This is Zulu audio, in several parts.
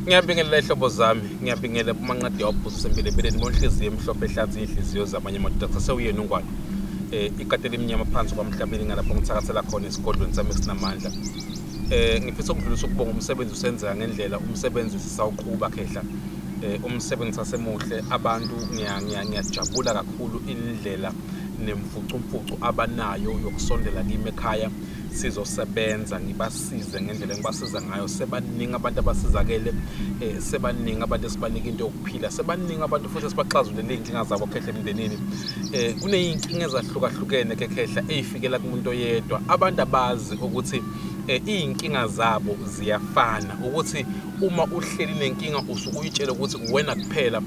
Ngiyabingelela ihlobo zami, ngiyabingelela kumanqadi yawubhusa sempilo empilweni ngonhliziyo emhlophe ehlanza iy'nhliziyo zamanye amadoda sasewuyena ungwane eh ikati elimnyama phansi kwamhlabeni ngalapho ngithakasela khona esigodlweni sami esinamandla eh ngifisa ukudlulisa ukubonga umsebenzi usenzeka ngendlela umsebenzi sisawuqhuba khehla eh umsebenzi sasemuhle abantu ngiyajabula kakhulu indlela nemfucumfucu abanayo yokusondela kimi ekhaya sizosebenza ngibasize ngendlela engibasiza ngayo sebaningi abantu abasizakele eh, sebaningi abantu esibanika into yokuphila sebaningi abantu futhi esibaxazulele iy'nkinga zabo khehla emndenini eh, kuney'nkinga ezahlukahlukene kekhehla ey'fikela kumuntu oyedwa abantu abazi ukuthi eh, iy'nkinga zabo ziyafana ukuthi uma uhleli nenkinga usuke uyitshela ukuthi uwena kuphela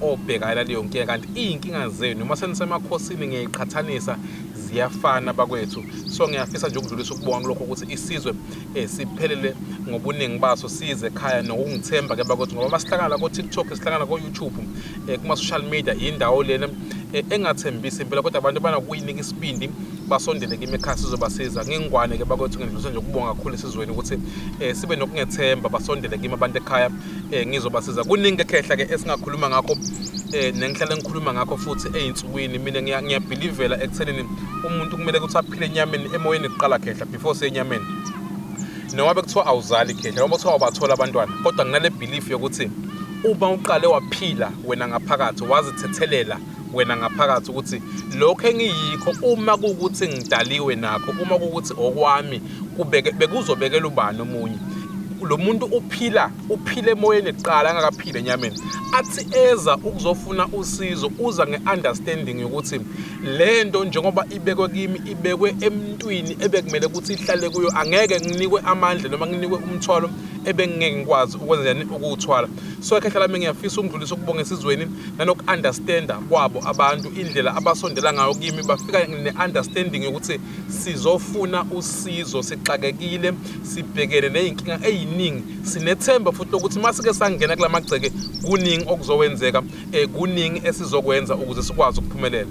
obhekana leyo nkinga kanti iy'nkinga zenu uma senisemakhosini ngiyayiqhathanisa ziyafana bakwethu so ngiyafisa nje ukudlulisa ukubona lokho ukuthi isizwe eh, siphelele ngobuningi baso size ekhaya nokungithemba ke bakwethu ngoba masihlangana ko TikTok sihlangana ko YouTube eh, kuma social media indawo lena eh, engathembisi impela kodwa abantu banakuyinika isibindi basondele kimi ekhaya sizobasiza ngingwane ke bakwethu ngidlulisa nje ukubonga kakhulu esizweni ukuthi eh, sibe nokungethemba basondele kimi abantu ekhaya eh ngizobasiza kuningi ekhehla ke esingakhuluma ngakho eh nengihlale ngikhuluma ngakho futhi ezinsukwini mina ngiyabelivela ekuthenini umuntu kumele ukuthi aphile enyameni emoyeni kuqala khehla before senyameni noma bekuthiwa awuzali khehla noma kuthiwa ubathola abantwana kodwa nginale belief yokuthi uma uqale waphila wena ngaphakathi wazithethelela wena ngaphakathi ukuthi lokho engiyikho uma kuwukuthi ngidaliwe nakho uma kuwukuthi okwami bekuzobekela ubani omunye lo muntu uphila uphile emoyeni kuqala angakaphile enyameni athi eza ukuzofuna usizo uza ngeunderstanding yokuthi lento njengoba ibekwe kimi ibekwe emntwini ebekumele ukuthi ihlale kuyo angeke nginikwe amandla noma nginikwe umthwalo ebengingeke ngikwazi ukwenzeni ukuwuthwala so ekhehla lami ngiyafisa ukundlulisa ukubonga esizweni nanoku-understanda kwabo abantu indlela abasondela ngayo kimi bafika ne-understanding yokuthi sizofuna usizo sixakekile sibhekene ney'nkinga ey'ningi sinethemba futhi lokuthi uma sike sangena kula magceke kuningi okuzokwenzeka um kuningi esizokwenza ukuze sikwazi ukuphumelela